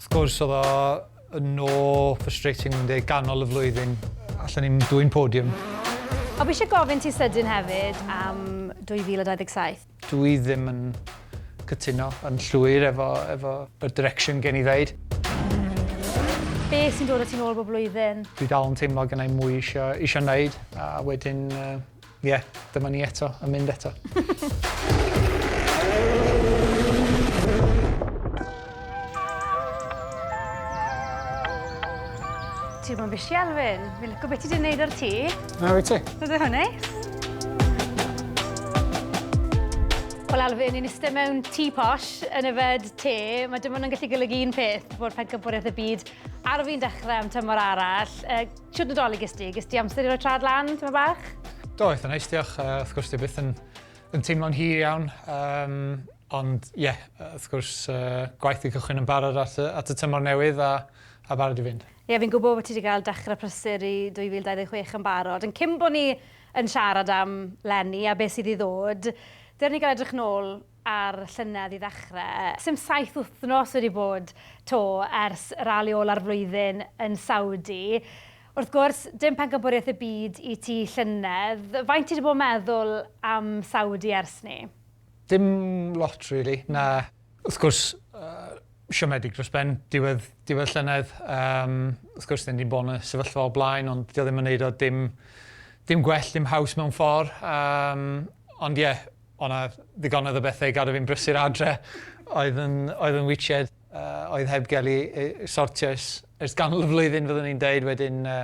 Wrth gwrs oedd o yn no frustrating yn deg ganol y flwyddyn. Allan ni'n dwy'n podium. O, fi eisiau gofyn ti sydyn hefyd am 2027. Dw i ddim yn cytuno yn llwyr efo, efo y direction gen i ddeud. Be sy'n dod o ti'n ôl bob blwyddyn? Dwi dal yn teimlo gennai mwy isio, isio wneud a wedyn uh, Ie, dyma ni eto, yn mynd eto. Ti'n bod yn bisi, Alfyn. Fi'n lyco beth ti wedi gwneud ar ti. Na, wyt ti? Bydd hwn neis. Wel, Alfyn, ni'n eistedd mewn tŷ posh yn yfed te. Mae dim ond yn gallu golygu un peth, bod pencampwriaeth y byd ar fi'n dechrau am tymor arall. Shwt Nadolig ges di? Ges di amser i roi trad lan, tyma bach? Do, eitha neis, diolch. Uh, wrth gwrs, di byth yn, yn teimlo'n hir iawn. Um, ond, ie, yeah, wrth gwrs, uh, gwaith i cychwyn yn barod at, at y tymor newydd a, a barod i fynd. Ie, yeah, fi'n gwybod bod ti wedi cael dechrau prysur i 2026 yn barod. Yn cyn bod ni yn siarad am Lenny a beth sydd i ddod, dyr ni gael edrych nôl a'r llynedd i ddechrau. Sdim saith wythnos wedi bod 'to ers rali ola'r flwyddyn yn Saudi. Wrth gwrs, dim pencampwriaeth y byd i ti llynedd. Faint ti 'di bod yn meddwl am Saudi ers 'ny? Dim lot rili, na. Wrth gwrs, siomedig dros ben diwedd diwedd llynedd. Yym, wrth gwrs 'dyn ni 'di bod yn y sefyllfa o blaen ond 'di o ddim yn neud o dim dim gwell, dim haws mewn ffor. Yym, ond ie, O' 'na ddigonedd o bethe i gadw fi'n brysur adre oedd yn oedd yn witsied yy oedd heb ga'l 'u eu sortio ers ers ganol y flwyddyn fyddwn i'n deud wedyn yy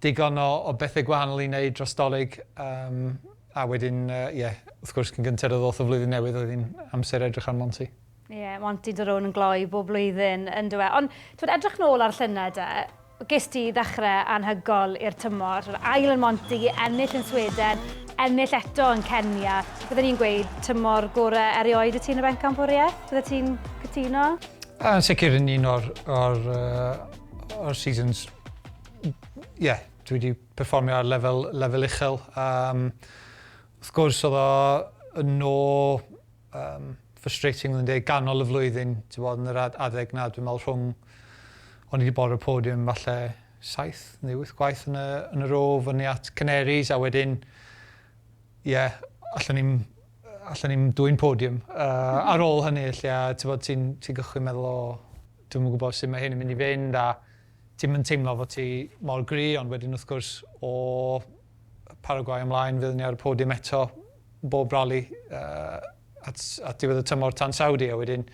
digon o o bethe gwahanol i neud dros 'Dolig yym a wedyn yy ie wrth gwrs cyn gynted o ddoth y flwyddyn newydd oedd 'i'n amser edrych ar Monty. Ie, yeah, Monty Daron yn gloi bob blwyddyn, yn dweud. Ond, twyd, edrych nôl ar llynedd de, ges ti ddechrau anhygol i'r tymor, ail yn Monty, ennill yn Sweden, ennill eto yn Kenya. Byddwn ni'n gweud tymor gorau erioed y ti'n y bencampwriaeth? Byddwn ti'n cytuno? Yn sicr yn un o'r, or, uh, or seasons, ie, yeah, dwi wedi perfformio ar lefel, lefel uchel. Um, wrth gwrs, oedd o yn ôl Yym, frustrating odd e'n deg, ganol y flwyddyn, t'mod yn yr ad- adeg 'na dwi'n me'wl rhwng o'n i 'di bod ar y podium falle saith neu wyth gwaith yn y yn y row fyny at Canaries a wedyn ie allwn i'm yy allwn i'm dwyn podium yy ar ôl hynny felly a t'mod ti'n ti'n gychwyn meddwl o dwi'm yn gwbod sut ma' hyn yn mynd i fynd a ti'm yn teimlo fo ti mor gry ond wedyn wrth gwrs o Paraguay ymlaen fydd ni ar y podium eto bob rali at diwedd y tymor tan Saudi a wedyn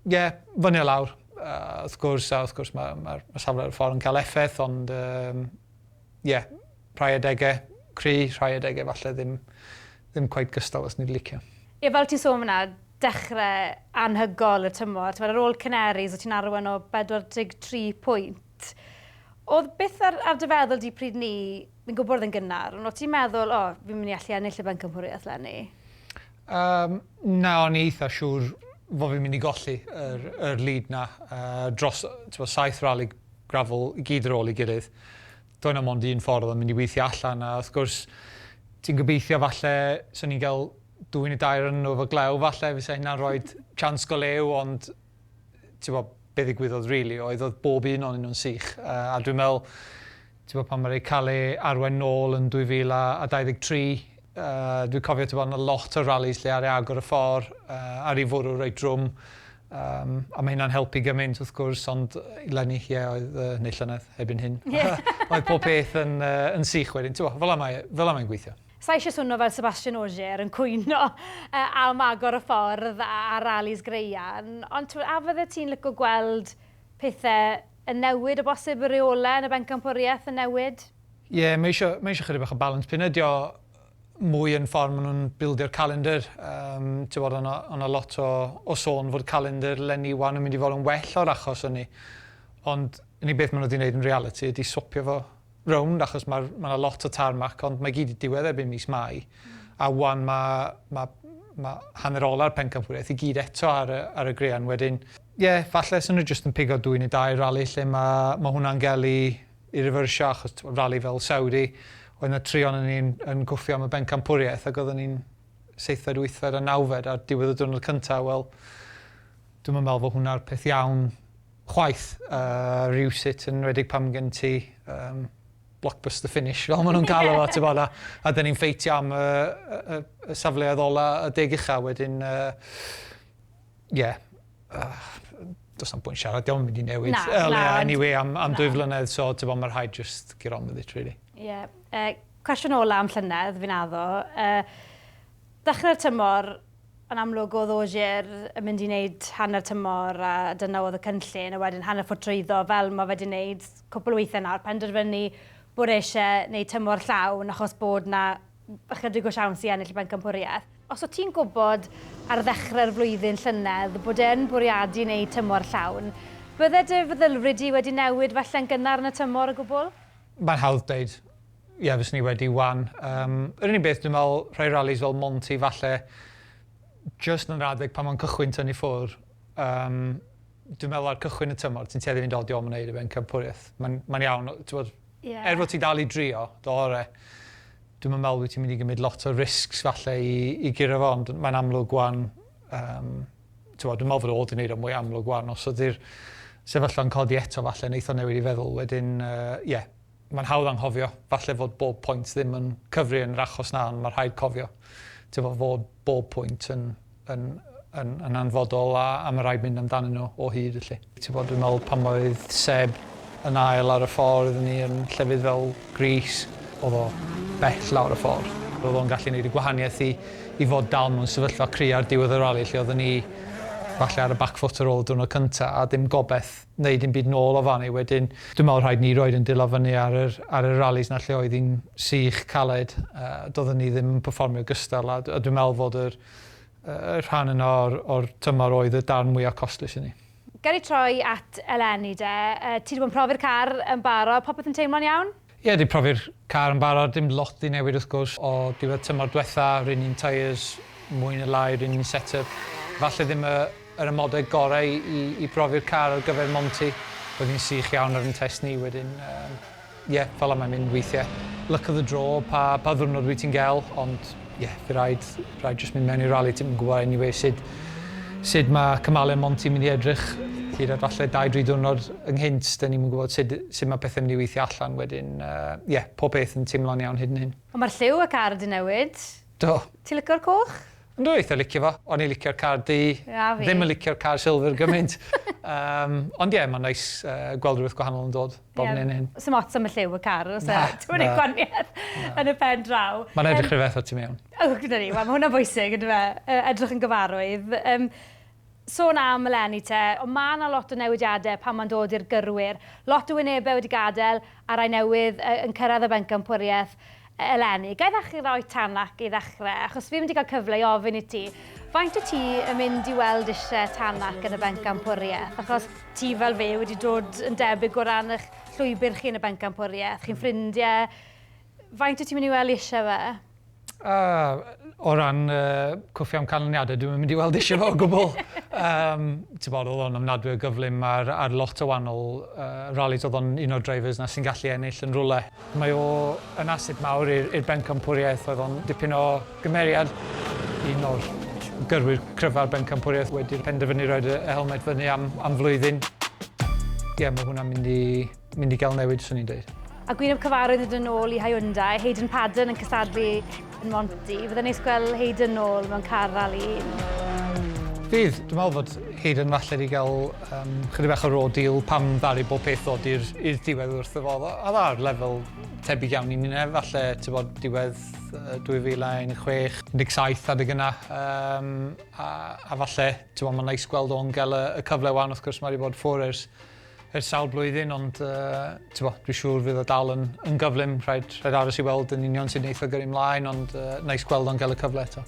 ie fyny a lawr wrth gwrs a wrth gwrs mae'r safle ar y ffordd yn cael effaith ond ie rhai adegau cry rhai adegau falle ddim ddim cweit gystal os ni'n licio. Ie fel ti'n sôn fanna dechrau anhygoel y tymor t'mod ar ôl Canaries o' ti'n arwain o 43 pwynt T, Oedd byth ar, ar dy feddwl di pryd ni, fi'n gwybod oedd yn gynnar, ond o ti'n meddwl, o, fi'n mynd i allu ennill y bencampwriaeth lenni? Um, na, o'n i eitha siŵr fod fi'n mynd i golli yr, mm. yr lead na. Uh, dros twa, saith rali grafol i gyd ar ôl i gilydd. Doedd na mond un ffordd o'n mynd i weithio allan, a wrth gwrs, ti'n gobeithio falle, so ni'n cael dwy'n y dair yn nhw efo glew falle, fysa hynna'n rhoi chance go lew, ond t'bo' be' ddigwyddodd rili oedd odd bob un onyn nw'n sych yy a dwi'n me'wl t'bo' pan ma' 'di ca'l e arwain nôl yn 2023 yy dwi cofio t'bo' o' 'na lot o rallis lle ar agor y ffor yy ar i fwrw reit drwm yym a ma' hynna'n helpu gymaint wrth gwrs ond leni ie oedd yy neu llynedd erbyn hyn oedd pob peth yn yy yn sych wedyn t'bo' fela mae e fela mae'n gweithio. Sa i eisiau swnio fel Sebastian Ogier yn cwyno am agor y ffordd a ralis graean, ond tibod, a fyddet ti'n licio gweld pethau yn newid o bosib, y rheolau yn y bencampwriaeth yn newid? Ie, mae eisiau, mae eisiau chydig bach o balans. P'un ydy o mwy yn ffordd maen nhw'n bildio calendr, yym, tibod, o' 'na, o' 'na lot o, o sôn fod calendr Lenny wan yn mynd i fod yn well o'r achos hynny, ond unig beth maen nhw 'di wneud yn realiti ydy swopio fo rownd achos ma' ma' 'na lot o tarmac ond mae gyd 'di diwedd erbyn mis Mai a 'wan ma' ma' ma' hanner ola'r pencampwriaeth i gyd eto ar y ar y graean wedyn ie falle 'sa nhw jyst yn pigo dwy neu dair rali lle ma' ma' hwnna'n ga'l i i rifyrsio achos t'mo' rali fel Saudi oedd 'na tri onon ni'n yn gwffio am y bencampwriaeth ag odden ni'n seithfed wythfed a nawfed ar diwedd y diwrnod cynta wel dwi'm yn me'wl fo' hwnna'r peth iawn chwaith. Rywsut, yn enwedig pan gen ti yym blockbuster finish fel ma' nhw'n galw fo t'bod a a 'dyn ni'n ffeitio am y y y y safleoedd ola y deg ucha wedyn yy ie do's na'm pwynt siarad 'di o'm yn mynd i newid. Na, na. Wel ie eniwe am am dwy flynedd so t'bod ma' rhaid jyst get on with it rili. Ie yy cwestiwn ola am llynedd fi'n addo yy dechre'r tymor Yn amlwg oedd Ogier yn mynd i wneud hanner tymor a dyna oedd y cynllun a wedyn hanner ffordd trwyddo fel mae wedi wneud cwpl o weithiau nawr, penderfynu bod e eisiau wneud tymor llawn achos bod 'na ychydig o siawns i ennill y bencampwriaeth. Os o't ti'n gwybod ar ddechrau'r flwyddyn llynedd bod e yn bwriadu wneud tymor llawn, bydde dy feddylfryd di wedi newid falle'n gynnar yn y tymor o gwbl? Mae'n hawdd dweud ie fyswn i wedi 'wan. Yym yr unig beth dwi'n meddwl rhai rallis fel Monti falle jyst yn yr adeg pan mae'n cychwyn tynnu ffwr' yym dwi'n meddwl ar cychwyn y tymor ti'n tueddu i fynd o diom yn neud e fe'n cynfforiaeth. Mae'n mae'n iawn o- t'mod... Ie. ...er fod ti dal i drio dy ore' dwi'm yn meddwl wyt ti'n mynd i gymryd lot o risgs falle i i guro fo ond mae'n amlwg 'wan yym t'mod dwi'n me'wl fod o fod yn neud o mwy amlwg ŵan os ydi'r sefyllfa'n codi eto falle neith o newid 'i feddwl wedyn yy ie. Ma'n hawdd anghofio falle fod bob point ddim yn cyfri yn yr achos 'na ond ma' rhaid cofio t'mod fod bob pwynt yn yn yn yn anfodol a a ma' raid mynd amdanyn nhw o hyd felly. Tibod, dwi'n meddwl pan oedd Seb yn ail ar y ffordd ni yn llefydd fel Greece, oedd o bell lawr y ffordd. Oedd o'n gallu neud y gwahaniaeth i i fod dal mewn sefyllfa cry ar diwedd y rali lle oedden ni falle ar y back foot ar ôl y diwrnod cynta a dim gobeth neud dim byd nôl o fan 'ny wedyn. Dwi'n meddwl rhaid ni roid yn dila fyny ar yr ar y ralis 'na lle oedd hi'n sych, caled, a doedden ni ddim yn perfformio gystal a a dwi'n meddwl fod yr Rhan yna o'r tymor oedd y darn mwya costus i ni. Gawn ni troi at eleni de. Ti 'di bod yn profi'r car yn barod, popeth yn teimlo'n iawn? Ie, 'di profi'r car yn barod, dim lot 'di newid wrth gwrs o diwedd tymor dwetha, yr un un tyres, mwy ne lai yr un un set-up. Falle ddim yr amodau gorau i brofi'r car ar gyfer Monty, oedd hi'n sych iawn ar yn test ni wedyn. Ie, fel 'a mae'n mynd weithie. Luck of the draw, pa pa ddiwrnod wyt ti'n gel, ond ie, fy raid, raid jyst mynd mewn i rali, ti'm yn gwbo eniwe sud sud ma' cymale Monty mynd i edrych hyd at falle dau dri diwrnod ynghynt, 'dyn ni'm yn gwbod sud sud ma' pethe mynd i weithio allan wedyn yy ie, pob peth yn timlo'n iawn hyd yn hyn. Ond ma'r lliw ac ar 'di newid. Do. Ti lico'r coch? Yndw eitha licio fo, o'n i'n licio'r car du, ddim yn licio'r car silver gymaint. Ond ie, mae'n neis gweld rhywbeth gwahanol yn dod bob hyn a hyn. Sdim ots am y lliw y car, os na, dim yn ei gwaniad yn y pen draw. Mae'n edrych rhywbeth o ti mewn. O, gyda ni, mae hwnna'n bwysig, yn dyfe, edrych yn gyfarwydd. Sôn am eleni te, ond ma' 'na lot o newidiade pan ma'n dod i'r gyrwyr. Lot o wynebe wedi gadel, a rai newydd yy yn cyrraedd y bencampwriaeth e- eleni. Ga i ddechrau gyda Oitanak i ddechrau, achos fi ddim wedi cael cyfle i ofyn i ti, faint wyt ti yn mynd i weld isie Tanak yn y bencampwriaeth, achos ti fel fi wedi dod yn debyg o ran ych llwybr chi yn y bencampwriaeth, chi'n ffrindie, faint wyt ti'n mynd i weld isie fe? O ran cwffio am canlyniadau, dwi'm yn mynd i weld isie fo o gwbl. T'mod o'dd o'n ofnadwy o gyflym ar ar lot o wanol rallis o'dd o'n un o'r drivers 'na sy'n gallu ennill yn rwle. Mae o yn asset mawr i'r i'r bencampwriaeth oedd o'n dipyn o gymeriad, un o'r gyrwyr cryfa'r bencampwriaeth wedi penderfynu roid y helmet fyny am am flwyddyn. Ie ma' hwnna'n mynd i Mynd i gael newid, swn i'n dweud. A gwyneb cyfarwydd hyd yn ôl i Hyundai, Hayden Paddon yn cystadlu yn Monty. Fydde'n neis gweld Hayden nôl mewn car rali un. Fydd, dwi'n meddwl fod Hayden falle wedi cael um, chydig bach o raw deal pam ddaru bob peth ddod i'r diwedd wrth y fodd. A dda'r lefel tebyg iawn i ni nef, falle ti'n bod diwedd 2016, 17 adeg yna. Um, a, a falle, ti'n bod, mae'n neis gweld o'n gael y, y cyfle wan, wrth gwrs, mae wedi bod ffwr ers ers sawl blwyddyn ond yy t'bo' dwi siŵr fydd o dal yn yn gyflym rhaid rhaid aros i weld yn union sut neith o gyrru mlaen ond yy neis gweld o'n ga'l y cyfle eto.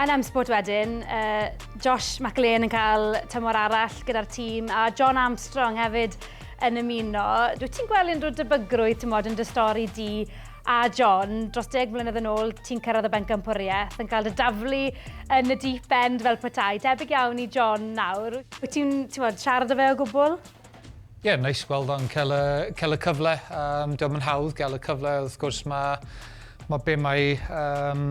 Yn M-Sport wedyn, yy Josh McLean yn cael tymor arall gyda'r tîm a John Armstrong hefyd yn ymuno. Dwyt ti'n gweld unrhyw debygrwydd t'mod yn dy stori di A John, dros deg mlynedd yn ôl, ti'n cyrraedd y bencampwriaeth, yn cael dy daflu yn y deep end fel petai. Debyg iawn i John nawr. Wyt ti'n siarad â fe o gwbl? Ie, yeah, neis gweld o'n cael y, cael y cyfle. Um, Diolch yn hawdd gael y cyfle. Wrth gwrs mae, mae be mae um,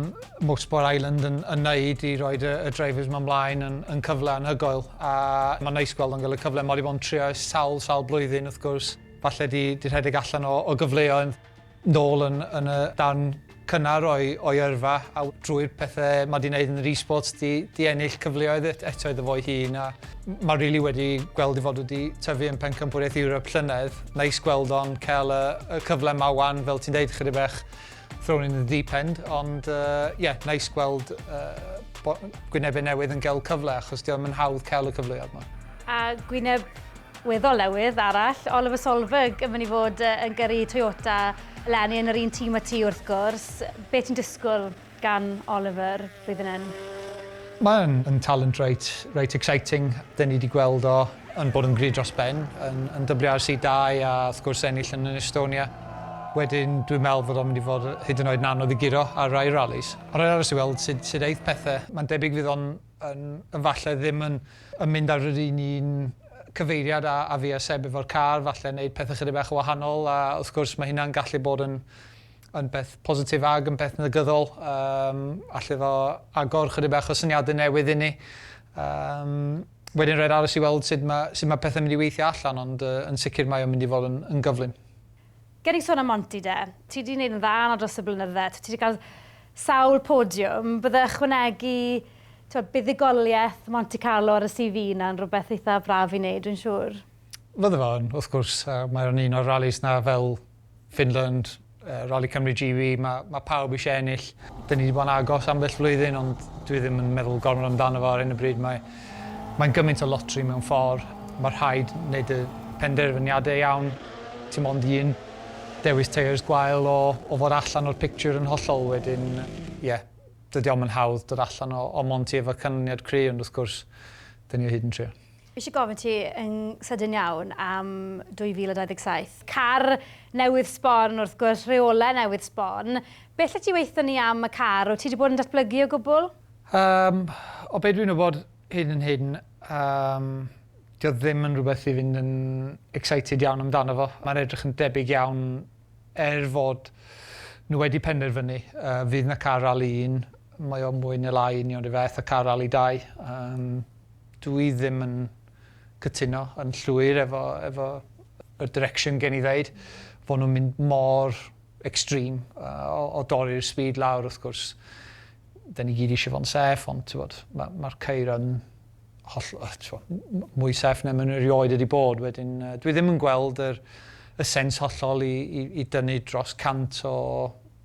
Motorsport Island yn, yn neud i roi y, y drivers mae mlaen yn, yn cyfle anhygoel. A mae'n neis gweld o'n cael y cyfle. Mae wedi bod yn trio sawl, sawl blwyddyn wrth gwrs. Falle di, di rhedeg allan o, o gyfleoedd. nôl yn yn y darn cynnar o'i o'i yrfa a w- drwy'r pethe ma' 'di neud yn yr e-sports 'di 'di ennill cyfleoedd et- eto iddo fo'i hun a m- ma' rili wedi gweld 'i fod wedi tyfu yn pencampwriaeth Europe llynedd. Neis gweld o'n ca'l y y cyfle 'ma ŵan fel ti'n deud chydig bach thrown in the deep end ond yy ie neis gweld yy bo- gwynebe newydd yn ga'l cyfle achos 'di o'm yn hawdd ca'l y cyfleodd 'ma. A gwyneb Weddol newydd arall, Oliver Solberg yn mynd i fod yn gyrru Toyota eleni yn yr un tîm â ti wrth gwrs. Be ti'n disgwyl gan Oliver blwyddyn hyn? Mae yn yn talent reit reit exciting. Dyn ni 'di gweld o yn bod yn gryf dros ben yn yn WRC dau a wrth gwrs ennill yn yn Estonia. Wedyn dwi'n meddwl fod o'n mynd i fod hyd yn oed yn anodd i guro ar rai rallies. Ma' raid aros i weld sut sut eith pethe. Mae'n debyg fydd o'n yn falle ddim yn yn mynd ar yr un un cyfeiriad a a fi a Seb efo'r car, falle neud pethe chydig bach yn wahanol a wrth gwrs ma' hynna'n gallu bod yn yn beth positif ag yn beth negyddol yym alle fo agor chydig bach o syniade newydd i ni yym wedyn roi'r aros i weld sud ma' sud ma' pethe mynd i weithio allan ond yy yn sicir mae o'n mynd i fod yn yn gyflym. Ger i sôn am Monty de, ti di neud yn dda yno dros y blynydde, ti di cael sawl podiwm, bydde ychwanegu t'wod buddugolieth Monte Carlo ar y CV yna yn rwbeth eitha braf i neud dwi'n siŵr? Fydde fo yn wrth gwrs, mae o'n un o'r rallis na fel Finland, Rali Cymru GB, ma' ma' pawb isie ennill. Dyn ni di bod yn agos ambell flwyddyn ond dwi ddim yn meddwl gormod amdano fo ar hyn o bryd, mae Mae'n gymaint o lotri mewn ffordd, mae rhaid wneud y penderfyniadau iawn, ti mond un dewis teiars gwael o o fod allan o'r pictiwr yn hollol wedyn ie, dydy o'm yn hawdd dod allan o o mond ti efo canlyniad cry ond wrth gwrs 'dyn ni o hyd yn trio. Fi eisiau gofyn ti yn sydyn iawn am 2027. Car newydd sbon wrth gwrs, rheolau newydd sbon. Beth allet ti weithio ni am y car, wyt ti 'di bod yn datblygu o gwbl? Yym, o be' dwi'n wbod hyd yn hyn yym 'di o ddim yn rwbeth i fynd yn excited iawn amdano fo. Ma'n edrych yn debyg iawn er fod nw wedi penderfynu yy fydd 'na car rali un, mae o mwy ne' lai union 'run fath â car rali dau. Yym dw i ddim yn cytuno yn llwyr efo efo y direction gen i ddeud fo' nw'n mynd mor extreme yy o o dorri'r speed lawr wrth gwrs. 'da ni gyd eisiau fod yn saff, ond tibod, mae'r ma ceir yn holl, tibod, mwy saff na mae'n erioed wedi bod. Wedyn, dwi ddim yn gweld yr, y sens hollol i, i, i dynnu dros 100 o,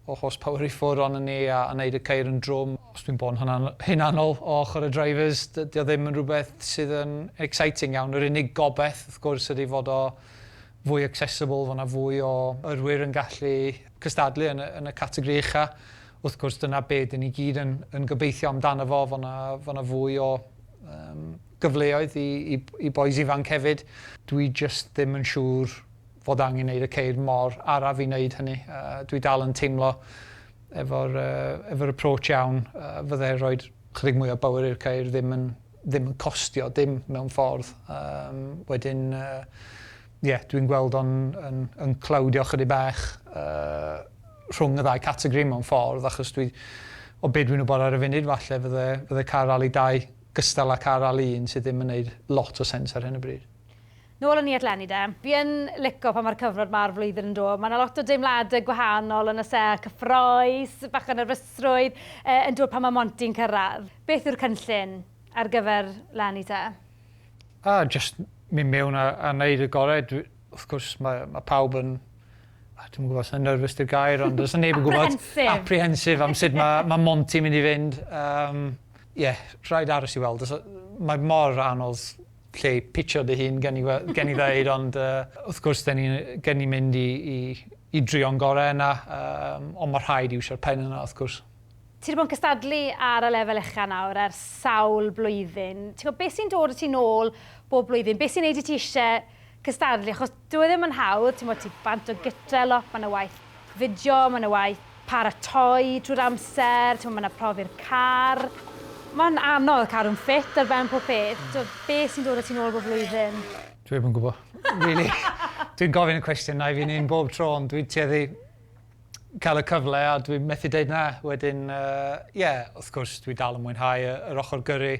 o horsepower i ffwrdd ond ni a, a wneud y ceir yn drwm. Os dwi'n bod yn hunanol o ochr y drivers, dydy o ddim yn rhywbeth sydd yn exciting iawn. Yr unig gobaith, wrth gwrs, ydy fod o fwy accessible, fod yna fwy o yrwyr yn gallu cystadlu yn y, yn y categori ucha. Wrth gwrs, dyna be dyn ni gyd yn yn gobeithio amdano fo, fo' 'na fo' 'na fwy o yym gyfleoedd i i i bois ifanc hefyd. Dwi jyst ddim yn siŵr fod angen neud y ceir mor araf i neud hynny. Yy dwi dal yn teimlo efo'r yy efo'r approach iawn yy fyddai roid chydig mwy o bower i'r ceir ddim yn ddim yn costio dim mewn ffordd. Yym wedyn yy ie dwi'n gweld o'n yn yn clowdio chydig bach yy rhwng y ddau categori mewn ffordd achos dwi o be' dwi'n wybod ar y funud falle fydde fydde car rali dau gystal â car rali un sydd ddim yn neud lot o sens ar hyn o bryd. Nôl yn Niat Lenny de. Fi yn lico pan mae'r cyfnod ma'r flwyddyn yn dod, mae 'na lot o deimladau gwahanol yn oes e, cyffroes, bach o nerfysrwydd yy yn dod pan mae Monty'n cyrraedd. Beth yw'r cynllun ar gyfer Lenny te? A, jyst mynd mewn a a neud y gore dwi wrth gwrs mae mae pawb yn a dwi'm yn gwybod os na nerfus di'r gair ond does na neb yn gwybod... Apprehensive! ...apprehensive am sut ma' ma' Monty'n mynd i fynd yym ie rhaid aros i weld os o- mae mor anodd lle i pitsio dy hun gen i we- gen i ddeud ond yy wrth gwrs 'dyn ni gen ni mynd i i i drio'n gore yna yym ond ma' rhaid iwsio'r pen yna wrth gwrs. Ti 'di bod yn cystadlu ar y lefel ucha' nawr ers sawl blwyddyn. Ti'n gwbod be' sy'n dod â ti nôl bob blwyddyn? Be' sy'n neud i ti isie cystadlu achos dyw e ddim yn hawdd t'mod ti bant o gytre lot ma' 'na waith fideo ma' 'na waith paratoi trwy'r amser t'mo' ma' 'na profi'r car ma'n anodd cadw'n ffit ar ben pob peth t'wo' be' sy'n dod â ti nôl bob blwyddyn? Dwi'm yn gwbo. Rili. Dwi'n gofyn y cwestiynau fi'n un bob tro ond dwi'n tueddu cael y cyfle a dwi methu deud na. Wedyn yy ie wrth gwrs dwi dal yn mwynhau y yr ochor gyrru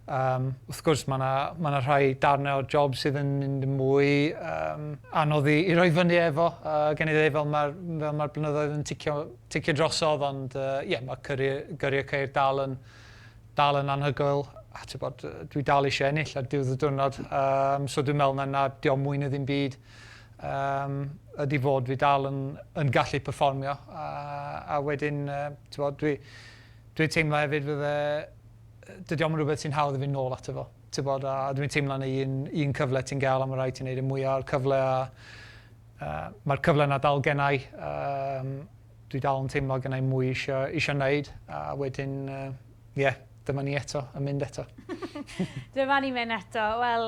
yym wrth gwrs ma' 'na ma' 'na rhai darne o'r job sydd yn mynd yn mwy yym anodd i i roi fyny efo yy gen i ddeu fel ma'r fel ma'r blynyddoedd yn ticio ticio drosodd ond yy ie ma' cyrru gyrru y ceir dal yn dal yn anhygoel a t'bod yy dwi dal isio ennill ar diwedd y diwrnod yym so dwi'n me'wl na na 'di o'm mwy na ddim byd Yym, ydi fod fi dal yn yn gallu perfformio a a wedyn yy t'mod dwi dwi'n teimlo hefyd fydde yy dydi o'm yn rwbeth sy'n hawdd i fyn' nôl ato fo t'bod a dwi'n teimlo yn y un un cyfle ti'n ga'l a ma' raid ti neud y mwya o'r cyfle a yy ma'r cyfle 'na dal gennai yym dwi dal yn teimlo gennai mwy isio isio neud a wedyn yy ie dyma ni eto yn mynd eto. Dyma ni myn' eto wel